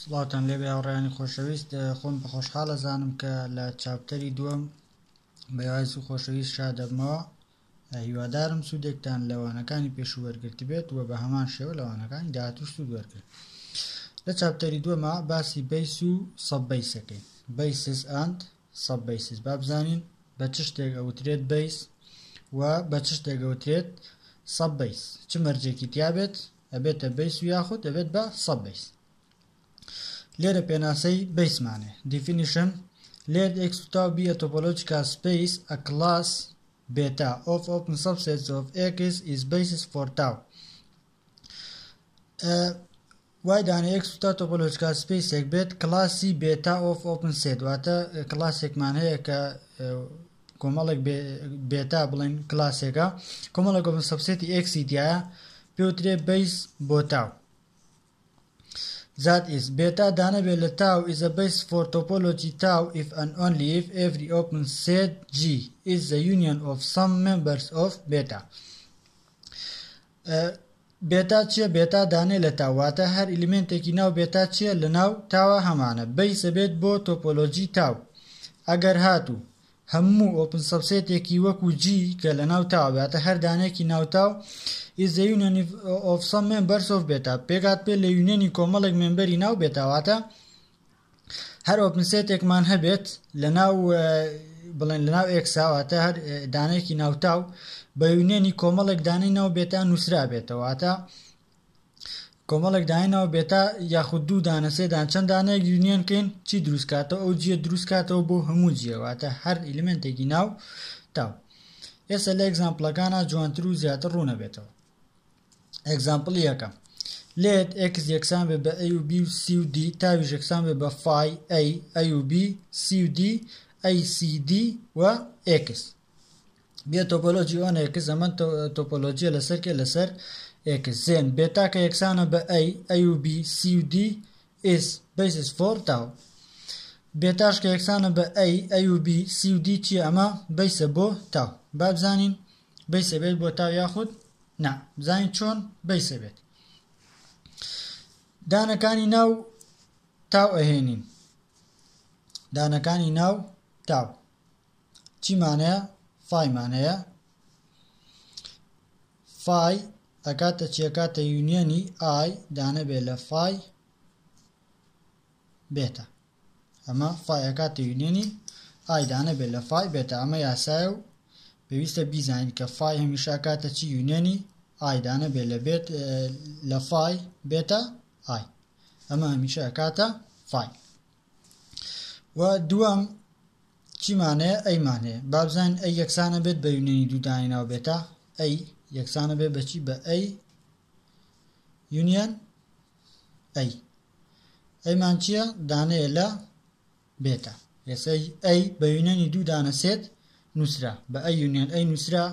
سڵاوتان لێبێ هاوڕیانی خۆشەویست خۆم بەخۆشحاڵ ئەزانم کە لە چاپتەری دووەم بەواز و خۆشەویست شادەبمەوە هیوادارم سوودێکتان لەوانەکانی پێشوو وەرگرت بێت و بە هەمان شێوە لەوانەکانی داهاتوو سوود وەرگرت لە چاپتەری دووەمە باسی بەیس و سەبەیسەکەی بەیسس ئەند سەب بەیسز با بزانین بە چ شتێک ئەوترێت بەیس و بە چ شتێک ئەوترێت سەب بەیس چ مەرجێکی تیابێت ئەبێتە بەیس و یاخود ئەبێت بە سەب بەیس لێرە پێناسەی بەیسمانێ دیفینیشن لێرد ئێکس و تاو بیە تۆپۆلۆجیکا سپیس ئە کلاس بێتا ئۆف ئۆپن سەبسێتس ئۆف ئێکس ئیز بەیسز فۆر تاو وای دانێ یەک سوتا تۆپۆلۆجکال سپەیسێک بێت کڵاسی بێتا ئۆف ئۆپن سێت واتە کڵاسێکمان هەیە کە کۆمەڵێک بێتا بڵێن کلاسێکە کۆمەڵێک ئۆپن سەبسێتی ئەکسی دیایە پێوترێ بیس بۆ تاو زات ئیس بێتا دانەبێت لە تاو ئیزە بیس فۆر تۆپۆلۆجی تاو ئیف ئەن ئۆن لیف ئێڤری ئۆپن سێت جی ئیز زە یونیەن ئۆف سەم مێمبەرس ئۆف بێتا بێتا چیە بێتا دانێ لە تاو واتە هەر ئیلیمێنتێکی ناو بێتا چیە لە ناو تاوە هەمانە بەیس ئەبێت بۆ تۆپۆلۆجی تاو ئەگەر هاتوو هەموو ئۆپن سەبسێتێکی وەکو جی کە لە ناو تاوە واتە هەر دانێکی ناو تاو is the union of some members of بێتا پێکات پێ لە یونیەنی کۆمەڵێک مێمبەری ناو بێتا واتە هەر ئۆپنسێتێکمان هەبێت لەناو بڵێن لەناو ئێکساواتە هەر دانێکی ناوتاو بە یونێنی کۆمەڵێک دانەی ناو بێتا نووسرا بێتەوەتە کۆمەڵێک داینەوە بێتا یاخود دوو دانە سێدان چەند دانێک یونیەنکەین چی دروستکاتەوە ئەو جیە دروستکاتەوە بۆ هەموو جیەواتە هەر ئیلمنتێکی ناو تاو ئێستا لە ئەگزامپلەکانە جوانتر و زیاتر ڕوونە بێتەوە ئێگزامپڵی یەکەم لێت x یەکسان بێ بە a و b و c و d تاویش یەکسان بێ بە فای a a و b c و d a c d و x بێ تۆپۆلۆژی ئۆن x زەمەن تۆپۆلۆژیە لەسەر کێ لەسەر x زێن بێتا کە یەکسانە بە a a و b c و d is basis for tau بێتاش کە یەکسانە بە a a و b c و d چی ئەمە بیسە بۆ تاو بابزانین بیسە بێت بۆ تاو یاخود نا بزانین چۆن بیسە بێت دانەکانی ناو تاو ئەهێنین دانەکانی ناو تاو چیمانەیە فایمانەیە فای ئەکاتە چیەکاتە یونیەنی ئای دانەبێ لە فای بێتە ئەمە فای ئەکاتە یونیۆنی ئای دانە بێت لە فای بێتە ئەمە یاسایە و پێویستە بیزانین کە فای هەمیشە ئەکاتە چی یونیۆنی ئای دانە بێت لە بێت لە فای بێتە ئای ئەمە هەمیشە ئەکاتە فای و دووەم چیمانەیە ئەیمانەیە بابزان ئەی یەکسانە بێت بە یونیۆنی دوودانی ناو بێتە ئەی یەکسانە بێت بەچی بە ئەی یونیۆن ئەی ئەیمان چییە؟ دانەیە لە بێتە. ئێسەی ئەی بە یونێنی دوو دانە سێت نووسرا بە ئەی یونێن ئەی نووسرا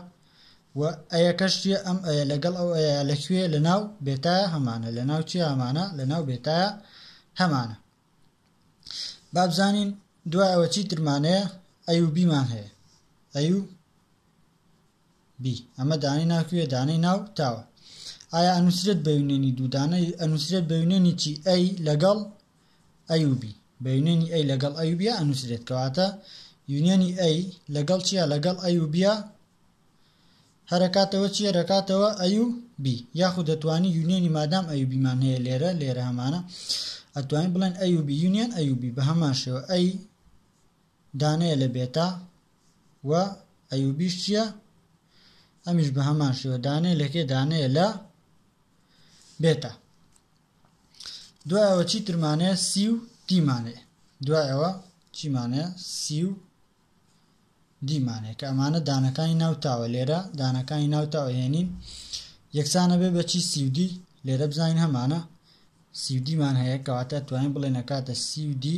و ئەیەکەش چییە ئەم ئەیە لەگەڵ ئەو ئەیە لە کوێ لە ناو بێتایە هەمانە لە ناو چی هەمانە لە ناو بێتایە هەمانە بابزانین دوایەوە چی ترمانەیە ئەی و بیمان هەیە ئەی و بی. ئەمە دانەی ناو کوێ؟ دانەی ناو تاوە. ئایا ئەنووسرێت بە یونێنی دوو دانە؟ ئەنووسرێت بە یونێنی چی؟ ئەی لەگەڵ ئەی و بی. بە یونێنی ئەی لەگەڵ ئەی و بیا ئەنووسرێت. کەواتە یونێنی ئەی لەگەڵ چییە؟ لەگەڵ ئەی و بیا هەرەکاتەوە چییە؟ رەکاتەوە ئەی و بی. یاخود دەتوانی یونێنی مادام ئەی و بیمان هەیە لێرە لێرە هەمانە ئەتوانین بڵێن ئەی و بی یونێن ئەی و بی بە هەمان شێوە ئەی دانەیە لە بێتا و ئەیوبیش چییە ئەمیش بە هەمان شێوە دانەیە لەکێ دانەیە لە بێتە دوایەوە چی ترمانەیە سی و دیمانەیە دوایەوە چیمانەیە سی و دیمانەیە کە ئەمانە دانەکانی ناوتاوە لێرە دانەکانی ناوتاوە هێنین یەکسانە بێ بەچی سیودی لێرە بزانین هەمانە سیودیمان هەیە کەواتە توانین بڵێ نەکاتە سیودی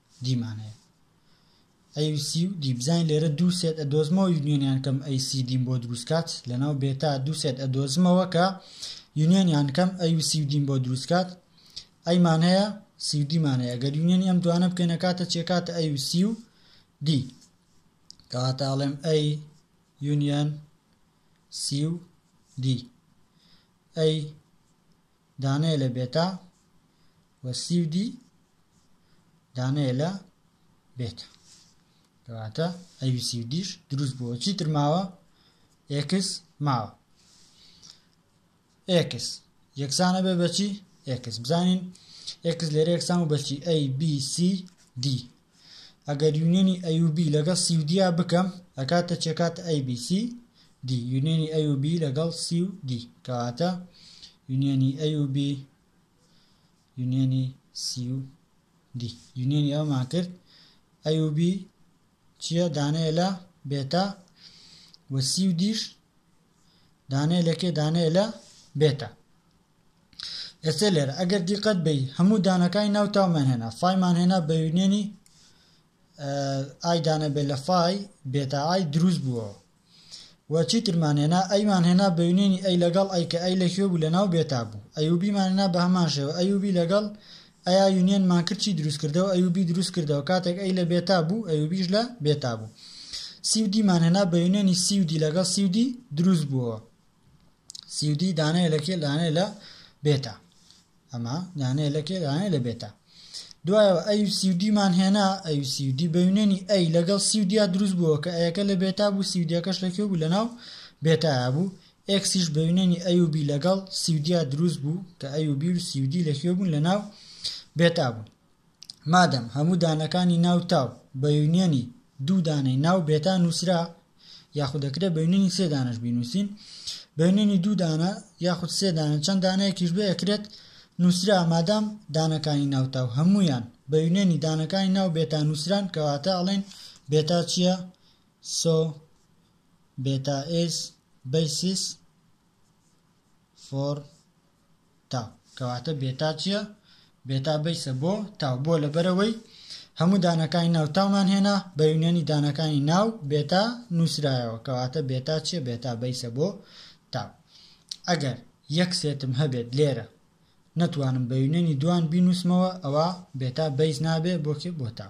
دیمانەیە ئەی سی و دی بزانین لێرە دوو سێت ئەدۆزمەوە یونیۆنیان کەم ئەی سی دیم بۆ دروستکات لەناو بێتا دوو سێت ئەدۆزمەوە کە یونیۆنیان کەم ئەی و سی و دیم بۆ دروستکات ئەیمان هەیە سی و دیمان هەیە گەر یونیۆنی ئەم دوانە بکەینە کاتە چێکاتە ئەی و سی و دی کەواتە ئەڵێم ئەی یونیۆن سی و دی ئەی دانەیە لە بێتا و سی و دی دانەیە لە بێتا کەواتە ئەوی سی و دیش دروست بووە چی تر ماوە ئێکس ماوە ئێکس یەکسانە بێ بەچی ئێکس بزانین ئێکس لێرە یەکسان و بەچی ئەی بی سی دی ئەگەر یونیەنی ئەی و بی لەگەڵ سی و دیا بکەم ئەکاتە چەکات ئەی بی سی دی یونیەنی ئەی و بی لەگەڵ سی و دی کەواتە یونیەنی ئەی و بی یونیەنی سی و دی یونیەنی ئەومان کرد ئەی و بی چییە دانەیە لە بێتا وە سی و دیش دانەیە لە کێ دانەیە لە بێتا ئێستا لێرە ئەگەر دیقەت بی هەموو دانەکانی ناو تاومان هێنا فایمان هێنا بە یونێنی ئایدانە بێ لە فای بێتا ئای دروست بووە و چیترمان هێنا ئەیمان هێنا بە یونێنی ئەی لەگەڵ ئەی کە ئەی لە کوێ بوو لە ناو بێتا بوو ئەیوبیمان هێنا بە هەمان شێوە ئەیوبی لەگەڵ ئەیا یونیەن مان کرد چی دروست کردەوە ئەیوبی دروست کردەوە کاتێک ئەی لە بێتا بوو ئەیوبیش لە بێتا بوو سی و دی مان هێنا بە یونیەنی سی و دی لەگەڵ سی و دی دروست بووەوە سی و دی دانەیە لە کێ دانەیە لە بێتا ئەمە دانەیە لە کێ دانەیە لە بێتا دوایەوە ئەی و سی و دی مان هێنا ئەی و سی و دی بە یونیەنی ئەی لەگەڵ سی و دیا دروست بووەوە کە ئەیەکە لە بێتا بوو سی و دیەکەش لە کێ بوو لە ناو بێتایا بوو ئێکسیش بە یونێنی ئەیوبی لەگەڵ سیودیا دروست بوو کە ئەیوبی و سیودی لە کوێ بوون لە ناو بێتا بوون مادەم هەموو دانەکانی ناو تاو بە یونێنی دوو دانەی ناو بێتا نووسرا یاخود دەکرێت بە یونێنی سێ دانەش بینووسین بە یونێنی دوو دانە یاخود سێ دانە چەند دانەیەکیش بێ ئەکرێت نووسرا مادام دانەکانی ناو تاو هەمویان بە یونێنی دانەکانی ناو بێتا نووسران کەواتە ئەڵێن بێتا چییە سۆ بێتا ئیز بەیسیس فۆر تاو کەواتە بێتا چییە؟ بێتا بەیسە بۆ تاو بۆ لەبەرەوەی هەموو دانەکانی ناو تاومان هێنا بە یونیەنی دانەکانی ناو بێتا نووسرایەوە کەواتە بێتا چییە بێتا بەیسە بۆ تاو ئەگەر یەک سێتم هەبێت لێرە نەتوانم بە یونەنی دوان بینووسمەوە ئەوا بێتا بەیس نابێ بۆ کێ بۆ تا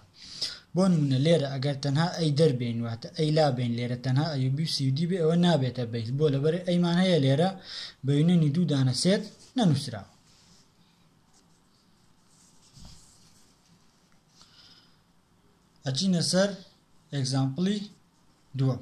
بۆ نموونە لێرە ئەگەر تەنها ئەی دەربێین واتە ئەی لابێین لێرە تەنها ئەیوبی و سیودی بێ ئەوە نابێتە بەیس بۆ لەبەر ئەیمان هەیە لێرە بە یونەنی دوو دانە سێت نەنووسراوە ئەچینە سەر ئەگزامپڵی دووەم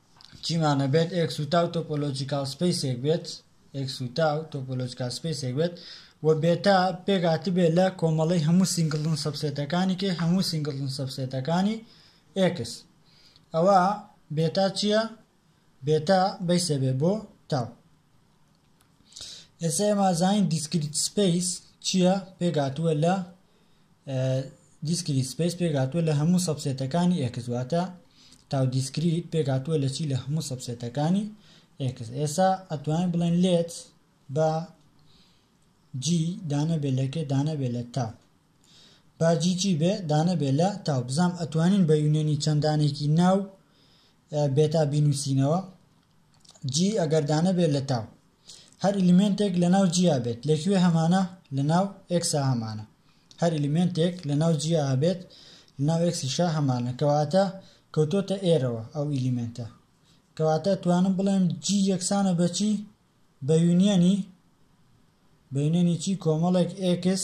چیمانە بێت ئێکس و تاو تۆپۆلۆجیکاڵ سپەیسێک بێت ئێکس و تاو تۆپۆلۆجیکاڵ سپەیسێک بێت و بێتا پێکهاتبێت لە کۆمەڵەی هەموو سینگڵن سەبسێتەکانی کێ هەموو سینگڵن سەبسێتەکانی ئێکس ئەوە بێتا چییە بێتا بەیسە بێ بۆ تاو ئێستا ئێمە زانین دیسکریت سپەیس چییە پێکهاتووە لە دیسکریت سپیس پێکهاتووە لە هەموو سەبسێتەکانی ئێکس واتە تاو دیسکریت پێکهاتووە لە چی لە هەموو سەبسێتەکانی ئێکس ئێسا ئەتوانین بڵێن لێت بە جی دانەبێ لەکێ دانەبێ لە تاو باجی چی بێ دانەبێ لە تاو بزانام ئەتوانین بە یونێنی چەندانێکی ناو بێتا بینوسینەوە جی ئەگەر دانەبێت لە تاو هەر ئلیمنتێک لە ناو جیا بێت لەکوێ هەمانە لە ناو ئکسا هەمانە هەر ئلیمنتێک لە ناو جیا هەبێت لە ناو ئکسیشا هەمانە کەواتە کەوتۆتە ئێرەوە ئەو ئلیمنتە کەواتە توانم بڵێم جی یەکسانە بەچی بە یونیەنی بەینەنی چی کۆمەڵێک ئکس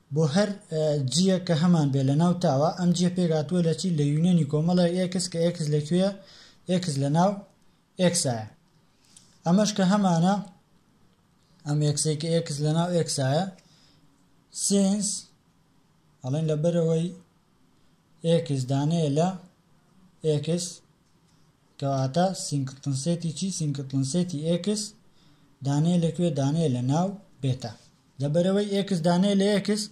بۆ هەر جییەک کە هەمان بێ لەناو تاوە ئەم جییە پێکهاتووە لە چی لە یونیۆنی کۆمەڵێک ئێکس کە ئێکس لە کوێیە ئێکس لەناو ئێکسایە ئەمەش کە هەمانە ئەم ئێکسەی کە ئێکس لەناو ئێکسایە سینس ئەڵێن لەبەرەوەی ئێکس دانەیە لە ئێکس کەواتە سینگتنسێتی چی سینگتنسێتی ئێکس دانەیە لەکوێ دانەیە لە ناو بێتە لەبەرەوەی ئێکس دانەیە لە ئێکس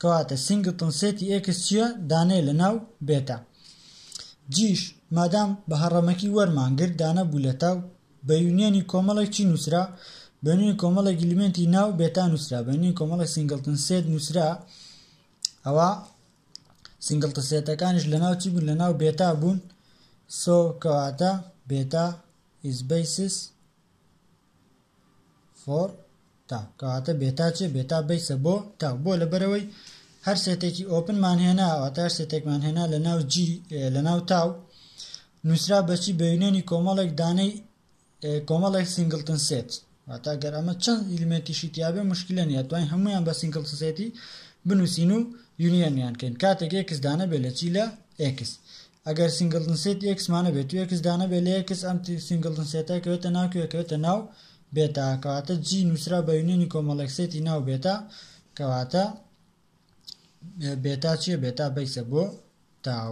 کەواتە سینگتنسێتی ئێکس چییە دانەیە لە ناو بێتە جیش مادام بە هەڕەمەکی وەرمان گرت دانە بوو لە تاو بە یونیەنی کۆمەڵێک چی نووسرا بەنوی کۆمەڵێک گلیمنتی ناو بێتا نووسرا بەنوی کۆمەڵی سینگلتن سێت نووسرا ئەوا سینگڵتسێتەکانیش لەناو چی بوون لەناو بێتا بوون سۆ کەواتە بێتا is basis for تا کەواتە بێتا چێ بێتا بیسە بۆ تا بۆ لەبەرەوەی هەر سێتێکی ئۆپنمان هێنا ئەواتە هەر سێتێکمان هێنا لە ناو جی لە ناو تاو نووسرا بەچی بە یونێنی کۆمەڵێک دانەی کۆمەڵێک سینگڵتن سێت واتا گەر ئەمە چەند ئیلمێنتیشی تیاابێ مشکلە نیە توانین هەمویان بە سینگڵتن سێتی بنووسین و یونیەنیان کەین کاتێک ئێکس دانە بێ لە چی لە ئێکس ئەگەر سینگڵتن سێت ئێکسمانە بێت و ئێکس دانە بێ لە ئێکس ئەم سینگڵتن سێتە کەوێتە ناو کەوێتە ناو بێتا کەواتە جی نووسرا بە یونیەنی کۆمەڵێک سێتی ناو بێتا کەواتە بێتا چیە بێتا بەیسە بۆ تاو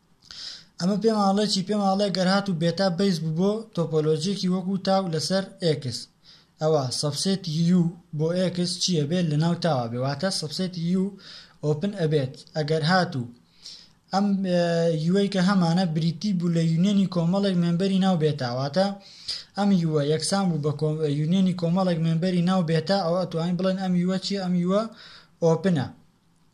ئەمە پێم ئاڵێ چی پێم ئاڵێ گەر هات و بێتا بەیس بوو بۆ تۆپۆلۆجیەکی وەکو تاو لەسەر ئێکس ئەوا سەبسێتی یو بۆ ئێکس چیە بێت لە ناو تاوە بێ واتە سەبسێتی یو ئۆپن ئەبێت ئەگەر هات و ئەم یوەی کە هەمانە بریتی بوو لە یونیەنی کۆمەڵێک مێمبەری ناو بێتاواتە ئەم یوە یەکسان بوو بە یونیەنی کۆمەڵێک مێمبەری ناو بێتا ئەو ئەتوانین بڵێن ئەم یوە چی ئەم یوە ئۆپنە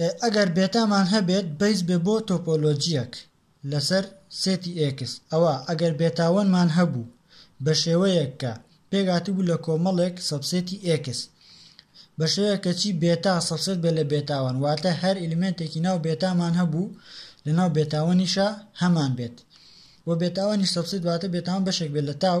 ئێ ئەگەر بێتامان هەبێت بەیس بێ بۆ تۆپۆلۆجیەک لەسەر سێتی ئێکس ئەوا ئەگەر بێتا وەنمان هەبوو بە شێوەیەک کە پێکهاتبوو لە کۆمەڵێک سەبسێتی ئێکس بە شێوەیەک کە چی بێتا سەبسێت بێت لە بێتا وەن واتە هەر ئیلیمێنتێکی ناو بێتامان هەبوو لەناو بێتا وەنیشا هەمان بێت وە بێتا وەنیش سەبسێت واتە بێتا وەن بەشێک بێت لە تاو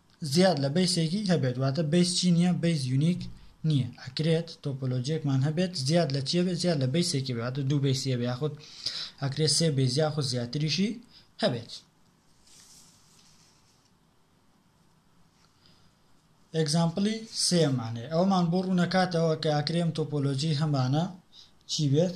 زیاد لە بەیسێکی هەبێت واتە بەیس چی نیە بەیس یونیک نیە ئەکرێت تۆپۆلۆجیەکمان هەبێت زیاد لە چیە بێت زیاد لە بەیسێکی بێت واتە دوو بەیسیە بێ یاخود ئەکرێت سێ بەیس یاخود زیاتریشی هەبێت ئەگزامپلی سێمانێ ئەومان بۆ ڕوونەکاتەوە کە ئەکرێم تۆپۆلۆجی هەمانە چی بێت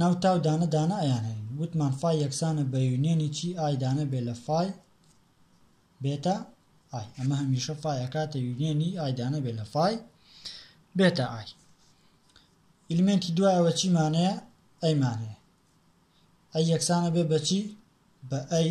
ناو تا و دانە دانە ئەیانهێنین وتمان فای یەکسانە بە یونیەنی چی ئای دانە بێ لە فای بێتا ئای ئەمە هەمیشە فای ئەکاتە یونیەنی ئای دانە بێ لە فای بێتا ئای ئیلمنتی دوایەوە چیمانەیە ئەیمانەیە ئەی یەکسانە بێ بەچی بە ئەی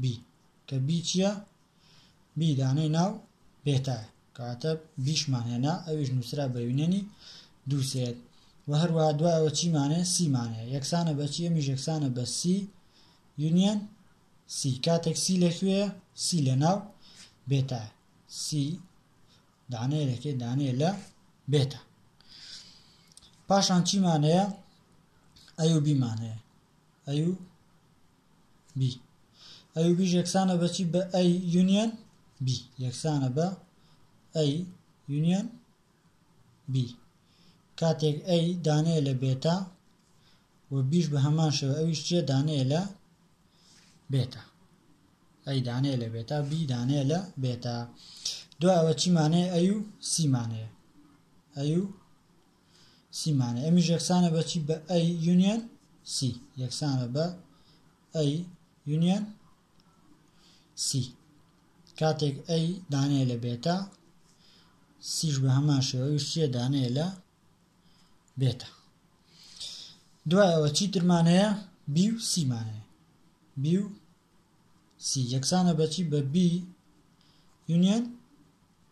بی کە بی چییە؟ بی دانەی ناو بێتایە کەواتە بیشمان هێنا ئەویش نووسرا بە یونەنی دووسێت و هەروە دوایەوە چیمانێ سیمانەیە یەکسانە بە چی ئەمیش یەکسانە بە سی یونیەن سی کاتێک سی لەکوێ سی لە ناو بێتە سی دانەیە لەکێ دانەیە لە بێتە پاشان چیمانەیە ئەو بیمانەیە ئەو بی ئەی و بیش یەکسانە بە چی بە ئەی یونیەن بی یەکسانە بە ئەی یونیەن بی کاتێک ئەی دانەیە لە بێتا و بیش بە هەمان شێوە ئەویش چیە دانەیە لە بێتا ئەی دانەیە لە بێتا بی دانەیە لە بێتا دوایەوە چیمانەیە ئەی و سیمانەیە ئەی و سی مانای ئەمیش یەکسانە بە چی بە ئەی یونیەن سی یەکسانە بە ئەی یونیەن سی کاتێک ئەی دانەیە لە بێتا سیش بە هەمان شێوەویش چیە دانەیە لە بێتە دوای ئەوە چی ترمانەیە بی و سیمانەیە بی و سی یەکسانە بەچی بە بی یونیەن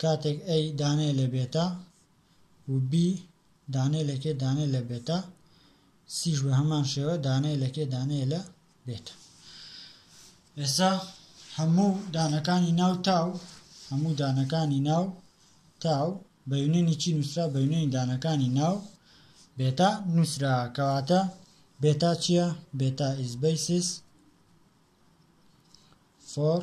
کاتێک A دانەیە لە بێتا و B دانەیە لە کێ دانەیە لە بێتا سیش بە هەمان شێوە دانەیە لە کێ دانەیە لە بێتا ئێستا هەموو دانەکانی ناو تاو هەموو دانەکانی ناو تاو بە یونێنی چی نووسرا بە یونێنی دانەکانی ناو بێتا نووسرا کەواتە بێتا چییە بێتا ئیز بەیسیس فۆر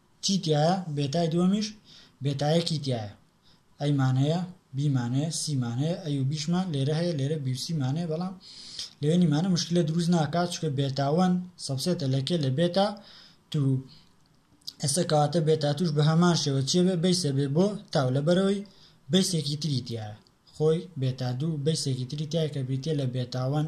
چی تیایە بێتای دووەمیش بێتایە کی تیایە ئەی مان هەیە بی مان هەیە سی مان هەیە ئەی و بیشمان لێرە هەیە لێرە بی و سی مان هەیە بەڵام لەوێ نیمانە مشکلە دروست ناکات چکە بێتا وەن سەبسێتە لە کێ لە بێتا تو ئێستا کەواتە بێتا توش بە هەمان شێوە چێ بێ بیسە بێ بۆ تاو لەبەرەوەی بیسێکی تری تیایە خۆی بێتا دوو بیسێکی تری تای کە بریتە لە بێتاوەن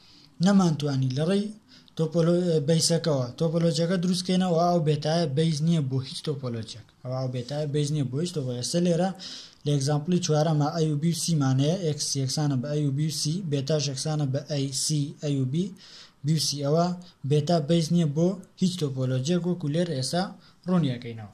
نەمانتوانی لەڕێی بەیسەکەوە تۆپۆلۆجیەکە دروست کەینەوە ئەو بێتایە بەیس نییە بۆ هیچ تۆپۆلۆجیەک ئەو ئەو بێتایە بەیس نییە بۆ هیچ تۆپۆلۆجی ئێستا لێرە لە ئێگزامپڵی چوارەمە ئەی و بی و سی مانەیە ئێکس یەکسانە بە ئەی و بی و سی بێتاش یەکسانە بە ئەی سی ئەی و بی بی و سی ئەوە بێتا بەیس نییە بۆ هیچ تۆپۆلۆجیەک وەکو لێر ئێستا ڕوونیەکەینەوە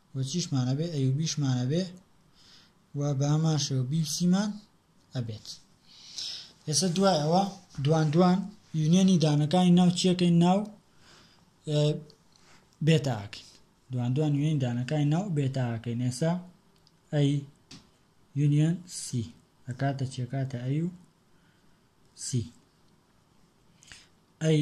و چیشمان ئەبێ ئەیوبیشمان ئەبێ و بەهەمان شێوە بیبسیمان ئەبێت ئێستا دوای ئەوە دوان دوان یونیەنی دانەکانی ناو چیەکەی ناو بێتاکەین دوان دوان یونین دانەکانی ناو بێتاکەین ئێستا ئەی یونیەن سی ئەکاتە چێکاتە ئەی و سی ئەی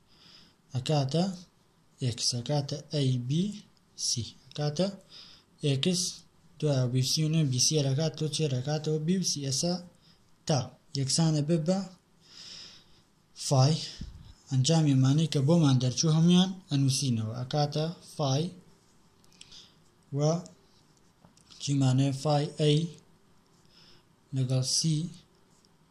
ئەکاتە ئێکس ئەکاتە ئەی بی سی ئەکاتە ئێکس دوای بی سی و نوێ بی سی ئەکات تۆ چێر ئەکاتەوە بی و سی ئێسا تا یەکسانە بێ بە فای ئەنجام ئەمانەی کە بۆمان دەرچوو هەمویان ئەنووسینەوە ئەکاتە فای و چیمانێ فای ئەی لەگەڵ سی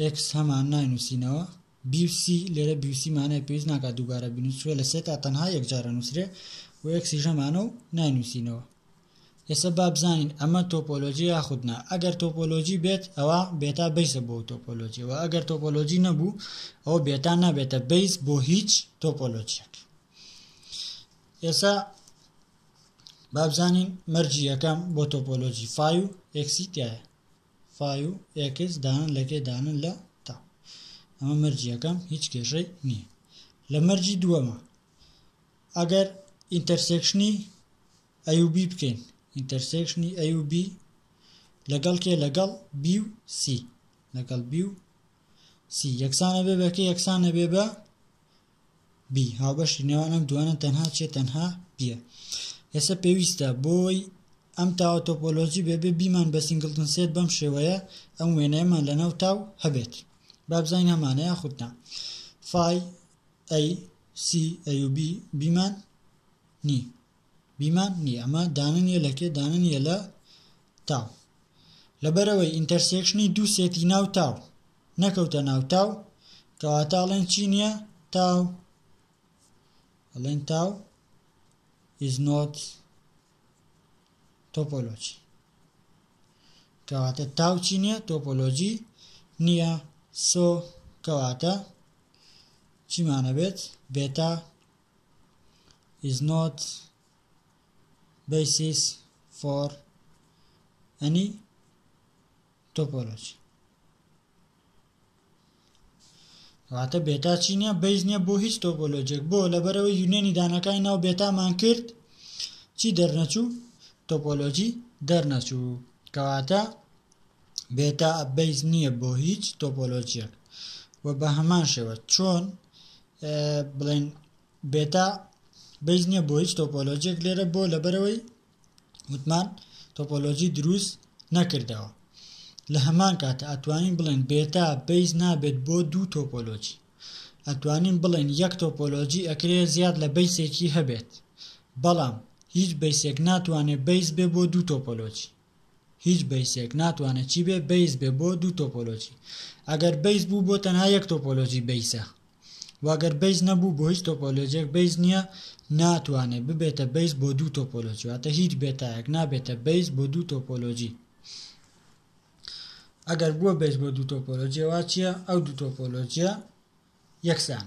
ئێکس هەمان ناینووسینەوە بیوسی لێرە بیوسی مانای پێویست ناکات دووبارە بنووسێ لە سێتا تەنها یەکجارە نووسرێ و ئێکسی ژەمانە و ناینووسینەوە ئێستا با بزانین ئەمە تۆپۆلۆژی یاخود نا ئەگەر تۆپۆلۆژی بێت ئەوە بێتا بیسە بۆ تۆپۆلۆژی و ئەگەر تۆپۆلۆژی نەبوو ئەوە بێتا نابێتە بیس بۆ هیچ تۆپۆلۆژیەک ئێستا بابزانین مەرجی یەکەم بۆ تۆپۆلۆجی فای و ئێکسی تایە فای و ئێکس دانن لەکێ دانن لە تا ئەمە مەرجی یەکەم هیچ کێشەی نییە لە مەرجی دووەمە ئەگەر ئینتەرسێکشنی ئەیوبی بکەین ئینتەرسێکشنی ئەیوبی لەگەڵ کێ لەگەڵ بی و سی لەگەڵ بی و سی یەکسانە بێ بەکە یەکسانە بێ بە بی هاوبەشی نێوان ئەم دوانە تەنها چیە تەنها بیە ئێستا پێویستە بۆی ئەم تاوە تۆپۆلۆجی بێبێ بیمان بە سنگلتن سێت بەم شێوەیە ئەم وێنەیەمان لەناو تاو هەبێت بابزین هەمانە یاخودنا فای ئەی سی ئەیوبی بیمان نی بیمان نیە ئەمە دانە نیە لە کێ دانە نیە لە تاو لەبەرەوەی ئینتەرسێکشنی دوو سێتی ناو تاو نەکەوتە ناو تاو کەواتە ئەڵێن چی نیە تاو ئەڵێن تاو is not topology کەواتە تاو چی نیە تۆپۆلۆجی نییە سۆ کەواتە چیمانە بێت بێتا is not basis for any topology واتە بێتا چی نیە بەیز نیە بۆ هیچ تۆپۆلۆجێک بۆ لەبەرەوە یونێنی دانەکانی ناو بێتامان کرد چی دەرنەچوو تۆپۆلۆجی دەرنەچوو کەواتە بێتا بەیز نییە بۆ هیچ تۆپۆلۆجیەک و بە هەمان شێوە چۆن بڵێن بێتا بەیس نییە بۆ هیچ تۆپۆلۆجیێک لێرە بۆ لەبەرەوەی وتمان تۆپۆلۆجی دروست نەکردەوە لە هەمان کاتە ئەتوانین بڵێن بێتا بەیس نابێت بۆ دوو تۆپۆلۆجی ئەتوانین بڵێن یەک تۆپۆلۆجی ئەکرێ زیاد لە بەیسێکی هەبێت بەڵام هیچ بەیسێک ناتوانێت بەیس بێ بۆ دوو تۆپۆلۆجی هیچ بەیسێک ناتوانێت چی بێ بەیس بێ بۆ دوو تۆپۆلۆجی ئەگەر بەیس بوو بۆ تەنها یەک تۆپۆلۆجی بەیسە واگەر بەیس نەبوو بۆ هیچ تۆپۆلۆجێک بەیس نییە ناتوانێت ببێتە بەیس بۆ دوو تۆپۆلۆجی واتە هیچ بێتایەک نابێتە بەیس بۆ دوو تۆپۆلۆجی ئەگەر بووە بەیس بۆ دوو تۆپۆلۆجیەوە چییە ئەو دوو تۆپۆلۆجیە یەکسان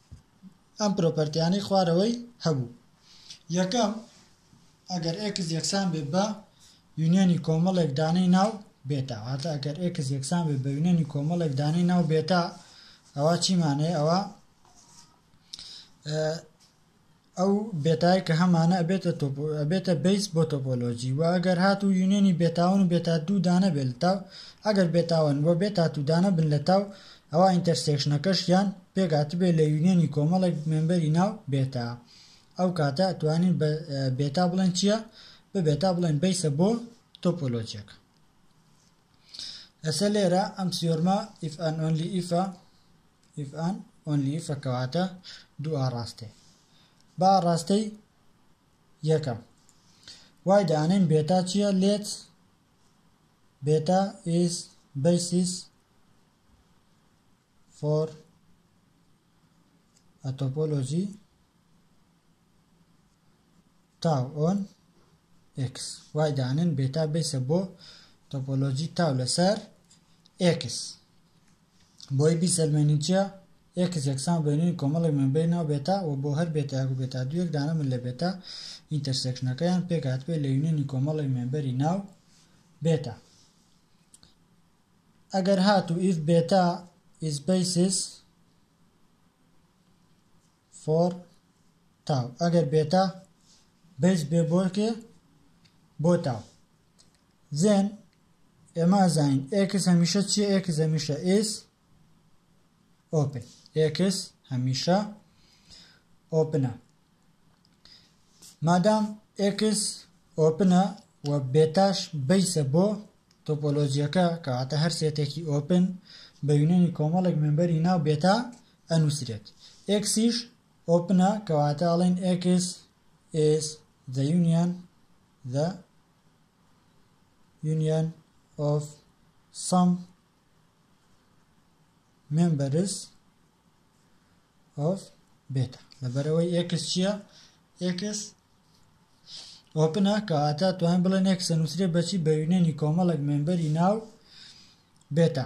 ئەم پرۆپەرتیانەی خوارەوەی هەبوو یەکەم ئەگەر ئێکس یەکسان بێت بە یونیەنی کۆمەڵێک دانەی ناو بێتا واتە ئەگەر ئێکس یەکسان بێت بە یونیەنی کۆمەڵێک دانەی ناو بێتا ئەوە چیمانەیە ئەوە ئەو بێتایە کە هەمانە ئەبێتە تۆپۆ ئەبێتە بەیس بۆ تۆپۆلۆجی وە ئەگەر هات و یونیۆنی بێتاون و بێتا دوو دانە بێت لە تاو ئەگەر بێتاون وە بێتا تو دانە بن لە تاو ئەوا ئینتەرسێکشنەکەش یان پێک هاتبێت لە یونیۆنی کۆمەڵێک مێمبەری ناو بێتا ئەو کاتە ئەتوانین بە بێتا بڵێن چییە بە بێتا بڵێن بەیسە بۆ تۆپۆلۆجیەکە ئەسە لێرە ئەم سیۆرمە ئیف ئەن ئۆنلی ئیفە If and only if کەواتە دوو ئاڕاستەی با ئاڕاستەی یەکەم وای دانێن بێتا چییە لێت بێتا is basis for a topology تاو ئۆن ئێکس وای دانن بێتا بەیسە بۆ تۆپۆلۆجی تاو لەسەر ئێکس بۆی بیسەلمێنین چیە ئێکس یەکسان بێنین کۆمەڵێک مەمبەی ناو بێتا و بۆ هەر بێتایەک و بێتا دوو یەک دانە من لە بێتا ئینتەرسێکشنەکەیان پێکهاتبێت لە یونێنی کۆمەڵێک مێمبەری ناو بێتا ئەگەر هاتوو ئیف بێتا ئیز بەیسیس فۆڕ تاو ئەگەر بێتا بەیس بێ بۆرکێ بۆ تاو زێن ئێمە ئەزانین ئێکس هەمیشە چیە ئێکس هەمیشە ئیس ئۆپن ئێکس هەمیشە ئۆپنە مادام ئێکس ئۆپنە و بێتاش بەیسە بۆ تۆپۆلۆجیەکە کەواتە هەر سێتێکی ئۆپن بە یونێنی کۆمەڵێک مێمبەری ناو بێتا ئەنوسرێت ئێکسیش ئۆپنە کەواتە ئەڵێن ئێکس ئیز زە یونیەن زە یونیەن ئۆف سەم مێمبەرس ئۆف بێتە لەبەرەوەی ئێکس چییە ئێکس ئۆپنە کەواتە توان بڵێن ئێکسە نووسێ بەچی بە یونێنی کۆمەڵک مێمبەری ناو بێتە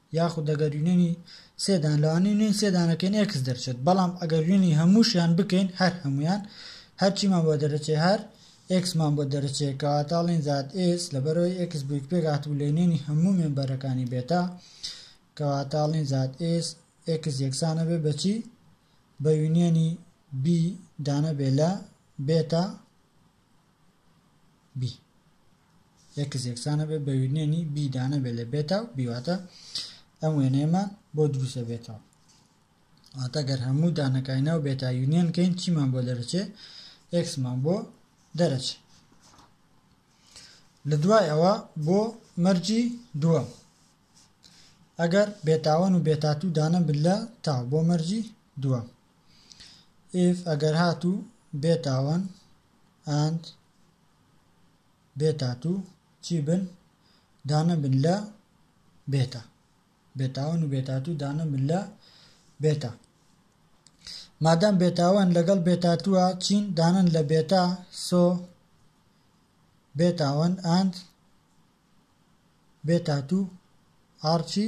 یاخود ئەگەر یونیۆنی سێ دان لەوانەیە یونیۆنی سێ دانەکەین ئێکس دەرچێت بەڵام ئەگەر یونیۆنی هەمووشیان بکەین هەر هەموویان هەرچیمان بۆ دەرەچێ هەر ئێکسمان بۆ دەرەچێ کەواتە ئەڵێن زائد ئێس لەبەرەوەی ئێکس بوویک پێک هاتبوو لە یونیۆنی هەموو مێمبەرەکانی بێتا کەواتە ئەڵێن زائد ئێس ئێکس یەکسانە بێ بەچی بە یونیۆنی بی دانە بێ لە بێتا بی ئێکس یەکسان ئەبێت بە یونیەنی بی دا نەبێت لە بێتا و بی واتە ئەم وێنەیەمان بۆ دروست ئەبێتەوە واتە گەر هەموو دانەکانی ناو بێتا یونیەن کەین چیمان بۆ دەرەچێ ئێکسمان بۆ دەرەچێ لە دوای ئەوە بۆ مەرجی دووەم ئەگەر بێتاوەن و بێتاتوو دانە بلە تاو بۆ مەرجی دووە ئف ئەگەر هاتوو بێتاوەن ئەند بێ تاتوو چی بن دانە بن لە بێتە بێتاوان و بێتاتوو دانە بن لە بێتە مادەم بێتاوان لەگەڵ بێتاتووە چین دانن لە بێتا سۆ بێتاوان ئاند بێتاتوو ئارچی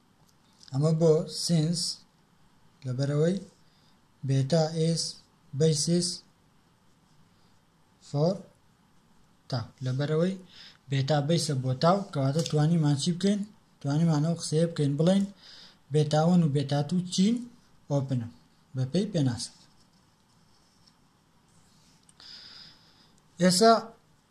ئەمە بۆ سینس لەبەرەوەی بێتا ئیس بەیسیس فۆر تاو لەبەرەوەی بێتا بەیسە بۆ تاو کەواتە توانیمان چی بکەین توانیمان ئەو قسەیە بکەین بڵین بێتاوەن و بێتات و چین ئۆپنە بەپێی پێناست ئێسا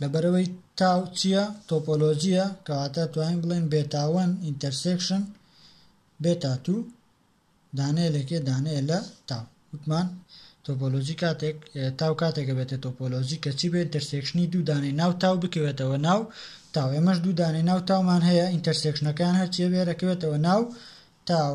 لەبەرەوەی تاو چیە؟ تۆپۆلۆژیە کەواتە توانین بڵێن بێتا وەن ئینتەرسێکشن بێتا تو دانەیە لەکێ دانەیە لە تاو وتمان تۆپۆلۆژی کاتێک تاو کاتێکە بێتە تۆپۆلۆژی کەچی بێ ئینتەرسێکشنی دوو دانەی ناو تاو بکەوێتەوە ناو تاو ئێمەش دوو دانەی ناو تاومان هەیە ئینتەرسێکشنەکان هەرچیە بێرەکەوێتەوە ناو تاو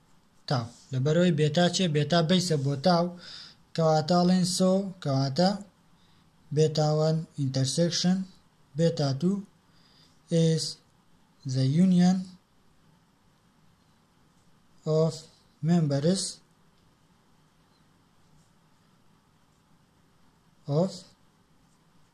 تا، لەبەرئەوەی بێتا چیە؟ بێتا بەیسە بۆ تا و کەواتە ئەڵێن سۆ کەواتە بێتا وەن ئینتەرسێکشن بێتا تو ئیز زە یونیەن of members of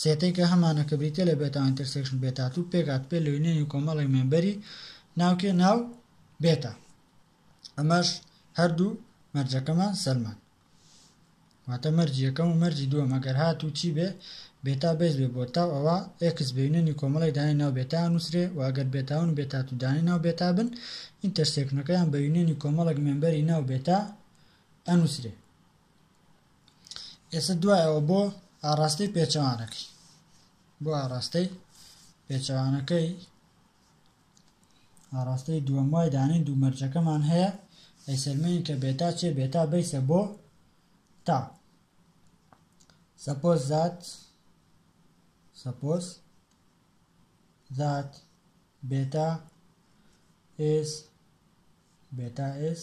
سێتەی کە هەمانە کە بریتیە لە بێتا ئینتەرسێکشن بێتا تو پێکهات پێ لە یونیەنی کۆمەڵێک مێمبەری ناوکێ ناو بێتا ئەمەش هەردوو مەرجەکەمان سەلمان واتە مەرج یەکەم و مەرجی دووە مەگەر هات و چی بێ بێتا بێز بێ بۆ تاو ئەوە ئێکس بینێنی کۆمەڵی دانی ناو بێتا نووسرێ و ئەگەر بێتاون و بێتات و دانی ناو بێتا بن ئینتەرسێکنەکەیان بە یونێنی کۆمەڵک مێمبەری ناو بێتا ئەنووسرێ ئێستا دوای ئەوە بۆ ئاڕاستەی پێچەوانەکەی بۆ ئاڕاستەی پێچەوانەکەی ئاڕاستەی دووەم وای دانین دوو مەرجەکەمان هەیە ئەی سەلمێن کە بێتا چێ بێتا بیسە بۆ تا سەپۆز زات سەپۆز زات بێتا ئێس بێتا ئێس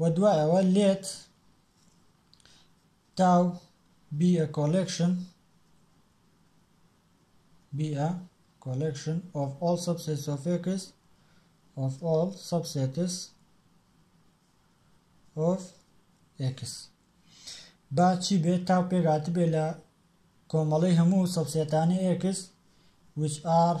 و دوای ئەوە لێت تاو بی ئە کۆلێکشن بی ئە کۆلێکشن ئۆف ئۆڵ سەبسێت سۆفێکس ئۆف ئۆڵ سەبسێتس ئۆف ئێکس با چی بێت تاو پێگاتی بێ لە کۆمەڵی هەموو سەبسێتانی ئێکس which are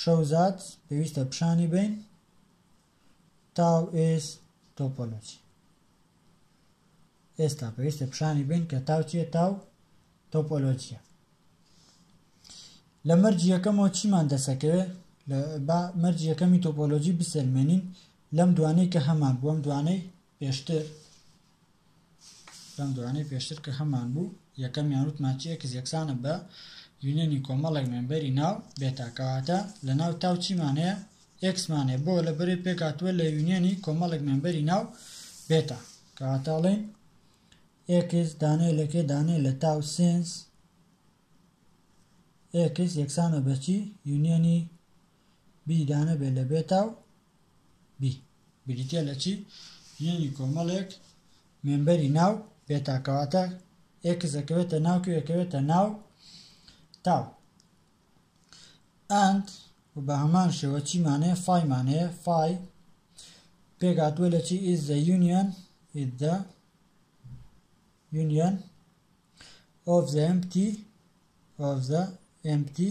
شەوزاد پێویستە پیشانی بین تاو ئێس تۆپۆلۆجی ئێستا پێویستە پیشانی بین کە تاو چیە تاو تۆپۆلۆجیە لە مەرجی یەکەمەوە چیمان دەسەکەوێت با مەرج یەکەمی تۆپۆلۆژی بسەلمێنین لەم دوانەی کە هەمان بووم دوانەی پێشتر لەم دوانەی پێشتر کە هەمان بوو یەکەمیان وتمان چی ئێکس یەکسانە بە یونێنی کۆمەڵێک مێمبەری ناو بێتا کەواتە لە ناو تاو چیمان هەیە ئێکسمان هەیە بۆ لە بەرێ پێکاتوە لە یونێنی کۆمەڵێک مێمبەری ناو بێتا کەواتاڵێن ئێکس دانێ لەکێ دانێ لە تاو سنس ئێکس یەکسانە بەچی یونیەنی بیدانە بێ لە بێتا و بی بریتیە لە چی؟ ژینی کۆمەڵێک مێمبەری ناو بێتا کەواتە ئێکس ئەکەوێتە ناو کێ ئەکەوێتە ناو تاو ئەند و بە هەمان شێوە چیمانەیە فایمانەیە فای پێگاتوە لە چی ئیز زە یونیەن ئیز زە یونیەن ئۆف زە ئەمپتی ئۆف زە ئەمپتی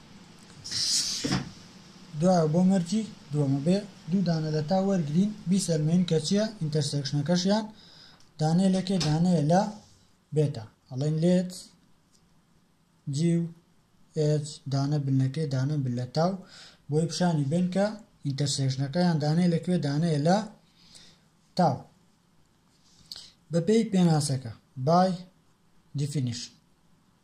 دوایە بۆ مەرجی دووەمە بێ دوو دانە لە تا وەرگین بیسەلمێن کە چییە ئینتەرسێکشنەکەشیان دانێ لەکێ دانەیە لە بێتە ئەڵێن لێت جی و ئێت دانە بنەکەی دانە بن لە تاو بۆی پیشانی بن کە ئینتەرسێکشنەکەیان دانێ لەکوێ دانەیە لە تاو بەپێی پێناسەکە بای دیفینیشن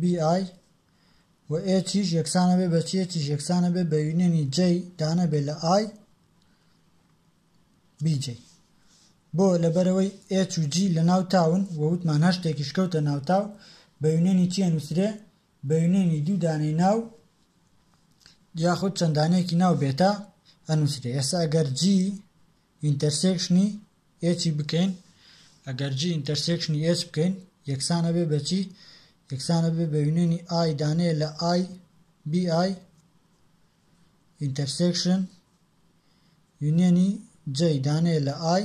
BI، و A تیش یەکسانە بێ بە چیە تیش یەکسانە بێ بە یونیەنی J دانە بێ لە I BJ بۆ لەبەرەوەی H و G لە ناو تاون و وتمان هەر شتێکیش کەوتە ناو تاو بە یونیەنی چیە نووسرێ بە یونیەنی دوو دانەی ناو یاخود چەندانەیەکی ناو بێتە ئەنووسرێ ئێستا ئەگەر G ئینتەرسێکشنی ئێچی بکەین، ئەگەر جی ئینتەرسێکشنی ئێچ بکەین یەکسان ئەبێ بە چی؟ یەکسان ئەبێ بە یونیۆنی ئای دانەیە لە ئای بی ئای ئینتەرسێکشن یونیۆنی جەی دانەیە لە ئای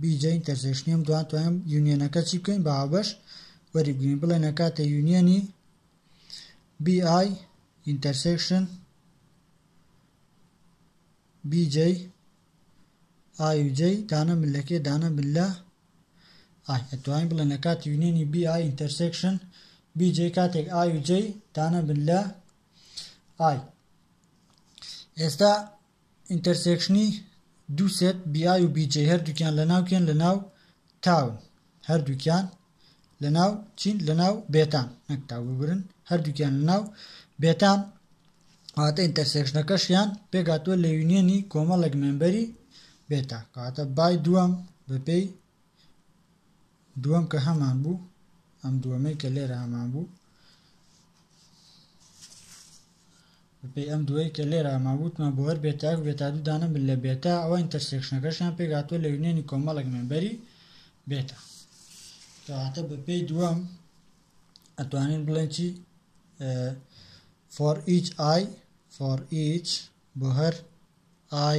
بیجە ئینتەرسێشنیەم دوان توانم یونیەنەکە چی بکەین بە هاوبەش وەریبگرین بڵێن ئەکاتە یونیەنی بی ئای ئینتەرسێکشن بی جەی ئای و جەی دانە من لەکێ دانە من لە ئای ئەتوانین بڵێن لە کاتی یونیەنی بی ئای ئینتەرسێکشن بی جەی کاتێک ئای و جەی دانە من لە ئای ئێستا ئینتەرسێکشنی دوو سێت BI و BJ هەردووکیان لەناو کێن لەناو تاون هەردووکیان لەناو چین لەناو بێتام نەک تاو ببرن هەردووکیان لەناو بێتام واتە ئینتەرسێکشنەکەشیان پێگاتوە لە یونیەنی کۆمەڵێک مێمبەری بێتا کەواتە بای دووەم بەپێی دووەم کە هەمان بوو ئەم دووەمەی کە لێرە هەمان بوو بەپێی ئەم دووەی کە لێرە هەمان بووتمان بۆ هەر بێتاک بێتا دوو دانە من لە بێتا ئەوە ئینتەرسێکشنەکەشیان پێگاتوە لە یونێنی کۆمەڵک مێنبەری بێتا کەواتە بەپێی دووەم ئەتوانین بڵێن چی for each i for each بۆ هەر i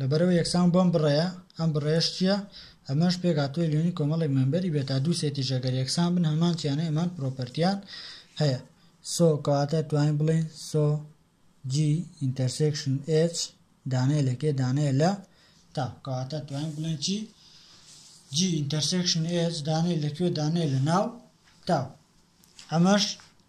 لەبەرئەوەی یەکسان بەم بڕەیە، ئەم بڕەیەش چیە؟ ئەمەش پێکهاتووە لەوێنەی کۆمەڵێک مێمبەری بێ تا دوو سێتیش ئەگەر یەکسان بن هەمان چیانەی هەمان پرۆپەرتیان هەیە سۆ کەواتە توانین بڵێین سۆ جی ئینتەرسێکشن ئێچ دانەیە لەکێ دانەیە لە تا کەواتە توانین بڵێن چی جی ئینتەرسێکشن ئێچ دانەیە لەکوێ دانەیە لە ناو تا ئەمەش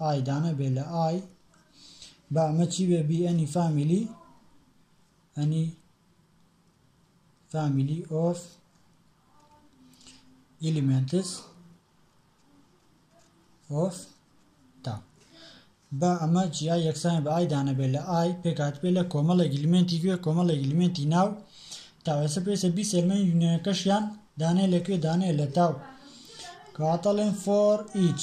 ئای دانە بێ لە ئای با ئەمە چی بێ بی ئەنی فامیلی ئەنی فامیلی ئۆف ئیلیمنتس ئۆف تا با ئەمە جیا یەکسان بە ئای دانە بێ لە ئای پێکات بێ لە کۆمەڵێک ئیلیمنتی گوێ کۆمەڵێک ئیلیمنتی ناو تاوێسە پێسە بی سێرمەنی یونەکەشیان دانێ لەکوێ دانێ لە تاو کاتەڵێن فۆر ئیچ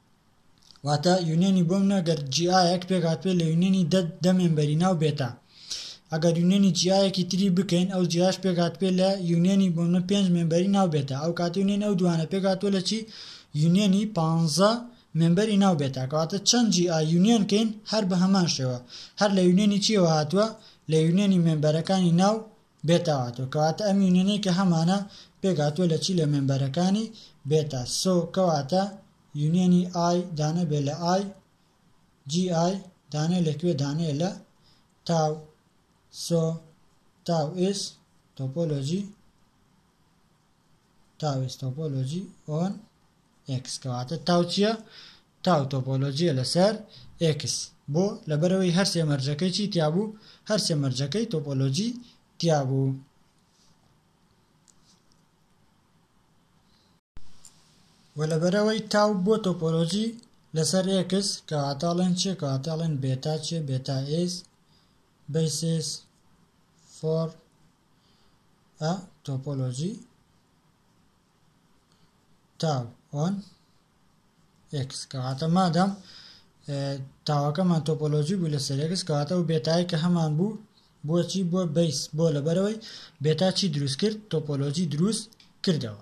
واتە یونیەنی بۆم نە گەر جیایەک پێکات پێ لە یونیەنی دە دە مێمبەری ناو بێتە ئەگەر یونیەنی جیایەکی تری بکەین ئەو جیاش پێکات پێ لە یونیەنی بۆم نە پێنج مێمبەری ناو بێتە ئەو کاتی یونیەن ئەو دوانە پێکات تۆ لە چی یونیەنی پانزە مێمبەری ناو بێتە کەواتە چەند جی ئا یونیەن کەین هەر بە هەمان شێوە هەر لە یونیەنی چیەوە هاتووە لە یونیەنی مێمبەرەکانی ناو بێتا هاتووە کەواتە ئەم یونیەنەی کە هەمانە پێک هاتووە لە چی لە مێمبەرەکانی بێتا سۆ کەواتە یونیەنی ئای دانە بێ لە ئای جی ئای دانێ لە کوێ دانێ لە تاو سۆ تاو ئێس تۆپۆلۆژی تاویستۆپۆلۆژی ئۆن ئێکس کەواتە تاو چیە؟ تاو تۆپۆلۆجیە لەسەر ئێکس بۆ؟ لەبەرئەوەی هەرسێ مەرجەکەی چی تیابوو؟ هەرسێ مەرجەکەی تۆپۆلۆجی تیابوو. وە لەبەرئەوەی تاو بۆ تۆپۆلۆجی لەسەر ئێکس کەواتە ئەڵێن چیە؟ کەواتە ئەڵێن بێتا چیە؟ بێتا ئێس بەیسێس فۆر ە تۆپۆلۆجی تاو ئۆن ئێکس کەواتە مادەم تاوەکەمان تۆپۆلۆژی بوو لە سەرێکس کەواتە و بێتای کە هەمان بوو بۆچی بۆ بیس بۆ لەبەرەوەی بێتا چی دروست کرد تۆپۆلۆژی دروست کردەوە